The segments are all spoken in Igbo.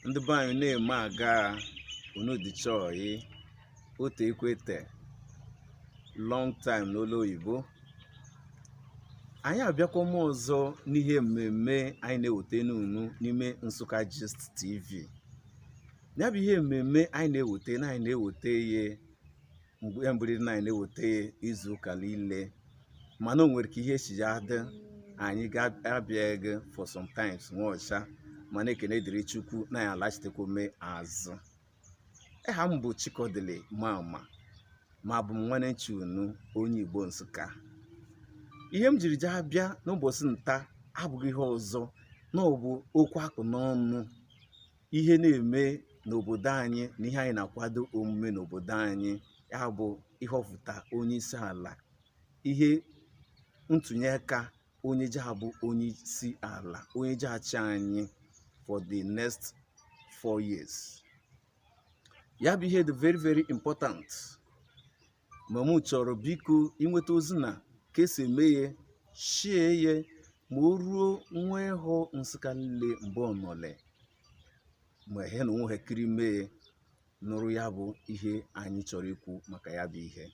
ndị be anyị na-eme aga unu dịcha oyi o teekwete long time n'olu oyibo anyị abịakwama ọzọ n'ihe mmemme anyị na-eweta n'unu n'ime Nsukka Gist TV ya bụ ihe mmemme anyị na-eweta na anyị na-eweta ihe mgbe ya mbụriri na anyị na-eweta ya izu ụka niile mana o nwere ka ihe si ya dị anyị ga-abịaghị for sometimes nwọsha mana ekene dịrị chukwu na anyị alachitekwame azụ aha m bụ chikodili mama ma abụ m nwanne unu onye igbo nsukka ihe m jiri jee abịa n'ụbọchị nta abụghị ihe ọzọ na ọ bụ okwu a kpụ n'ọnụ ihe na-eme n'obodo anyị na ihe anyị na-akwado omume n'obodo anyị ya bụ ịhọpụta onye isi ala ihe ntụnye aka onye ji abụ onye isi ala onye ji achị anyị for the next four years ya bụ ihe dị very very important ma mụ chọrọ biko i nweta ozi na ka esi eme ya shie ya ma o ruo nwa ehọ nsukka niile mbe ọ nọle ma he na onwe ha kiri mee nụrụ ya bụ ihe anyị chọrọ ikwu maka ya bụ ihe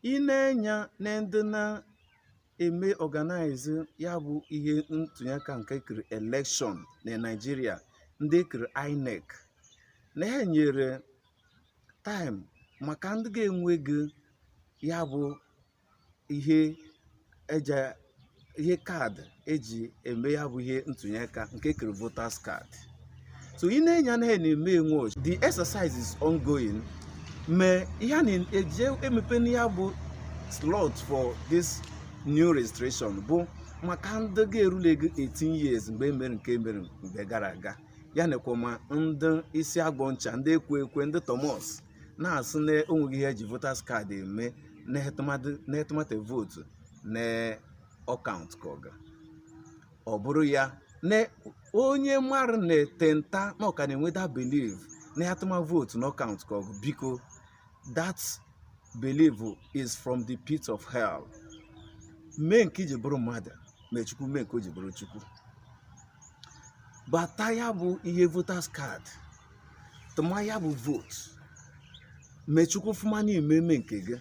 i nee enya na ndị na-eme organize ya bụ ihe ntụnye aka nke kiri election na nigeria ndị kiri inec na ha nyere time maka ndị ga-enwegị ya bụ ihe card eji eme ya bụ ihe ntụnye aka nke kere voters card so i nee enya na ha na-eme nwọsha the exercise is ongoing ma ihe a na-eje emepe na ya bụ slot for this new registration bụ maka ndị ga-erulegị 18 years mgbe e mere nke e mere mgbe gara aga ya nekwa ma ndị isi agbọ ncha ndị ekwe ekwe ndị Thomas na-asụ na o nweghị ihe eji voters card eme na a tụmata vote na ọ countụkọgụ ọ bụrụ ya na onye mmadụ na-ete nta na ọ ka na-enwe that belief na a tụma vote na ọ countụkọgụ biko that belief is from the pit of hell mee nke i ji bụrụ mmadụ mee chukwu mee nke o ji bụrụ chukwu bata ya bụ ihe voters card tụma ya bụ vote mee chukwu fụma na i meeme nke gị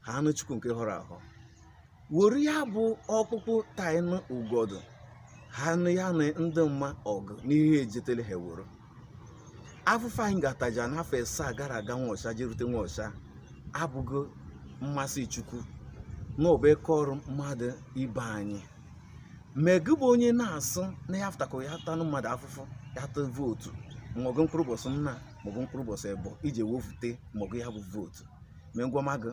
haanụ chukwu nke họrọ ahọ were ya bụ ọkpụkpụ taịnụ ugodu haanụ ya na ndị maa ọgụ n'ihe ejetere ha woro afụfụ anyị gataja n'afọ asaa gara aga nwọsha jerute nwọsha abụghị mmasị chukwu na ọbụ eka ọrụ mmadụ ibe anyị ma gị bụ onye na-asị na ya fụtakọ ya tanụ mmadụ afụfụ ya tụ vootu maọbụ mkpụrụ ụbọchị nna maọbụ mkpụrụ ụbọchị ịbọ iji wefute maọbụ ya bụ vootu ma ngwa ma gị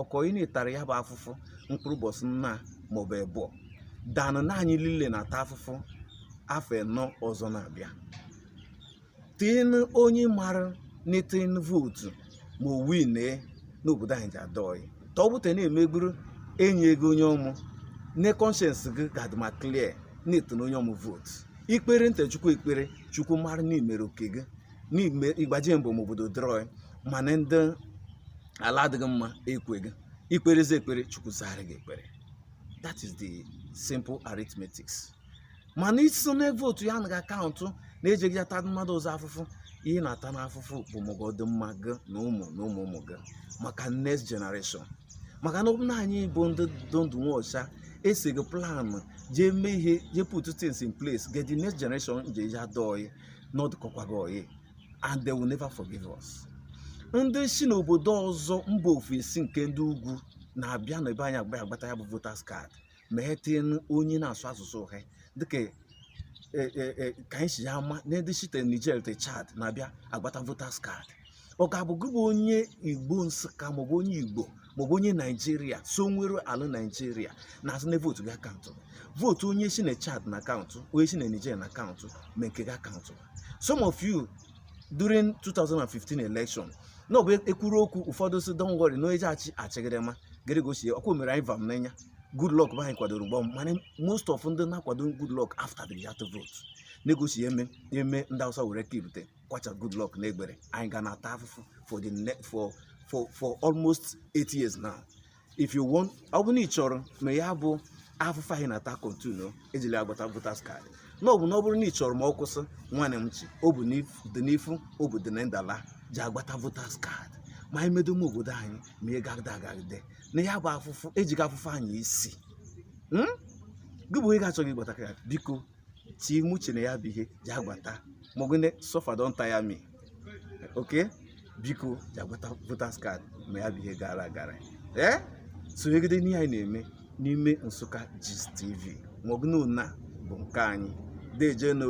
ọkọị na-etara ya bụ afụfụ mkpụrụ ụbọchị nna maọbụ ịbọ danụ na anyị niile na-ata afụfụ afọ ịnọ ọzọ na-abịa tin onye mara n'itin vootu ma o winee n'obodo anyị je adị oyi ka ọ bụta na-emegburu enye ego onye ọmụ ne conscience gị ga-adị ma clear na-etin onye ọmụ vootu ikpere nte chukwu ekpere chukwu mara n'imere oke gị n'ime ịgbaje mbọ ma obodo dịrị oyi mana ndị ala adịghị mma ekweghị ikperezi ekpere chukwu zara gị ekpere that is the simple arithmetics mana ịsị na vootu ya anaghị akaụntụ na-ejeghị ata mmadụ ọzọ afụfụ ihe na-ata n'afụfụ bụ maka ọdịmma gị na ụmụ na ụmụ ụmụ gị maka next generation maka na ọ bụ na anyị bụ ndị dị ndụ nwọsha esighị plan jee mee ihe jee put things in place get the next generation je eji adị oyi na ọ dịkọkwaghị oyi and they will never forgive us ndị si n'obodo ọzọ mba ofesi nke ndị ugwu na-abịa na ebe anyị agba agbata ya bụ voters card ma e tinyenu onye na-asụ asụsụ ha dịka e, e, e, ka anyị si ya ama na ndị site Niger te Chad na-abịa agbata voters card ọ ga-abụ gị bụ onye Igbo Nsụka maọbụ onye Igbo maọbụ onye Naijiria so nwere ala Naijiria na-asị na vootu gị akaụntụ vootu onye si na Chad na-akaụntụ onye si na Niger na-akaụntụ ma nke gị akaụntụ some of you during 2015 election na ọ bụ ekwuru okwu ụfọdụ sị don't worry na onye ji achị achịgide ma gịrị gosie ọkwa o mere anyị vam n'anya Goodluck be anyị kwadoro gbam mana most of ndị na-akwado Goodluck afụtadịghị atụ vote na-egosi eme eme ndị awụsa were kibute kwacha Goodluck n'egbere anyị ga na-ata afụfụ for the for for for almost eight years now if you want ọ bụrụ na ị chọrọ ma ya bụ afụfụ anyị na-ata continue ejele agbata voters card na ọ bụ na ọ bụrụ na ị chọrọ ma ọ kwụsị nwanne m chi ọ bụ dị n'ifu ọ bụ dị na ndala ji agbata voters card ma anyị medoma obodo anyị ma ị gagide agagide na ya bụ afụfụ ejighị afụfụ anya isi hmm? gị bụ onye ga-achọghị ịgbata card biko tii m uche na ya bụ ihe ji agbata maka na suffer don tire me okay biko ji agbata voters card ma ya bụ ihe gara gara ee sonyegide n'ihe anyị na-eme n'ime nsụka gist tv maka na ọ bụ nke anyị deje nụ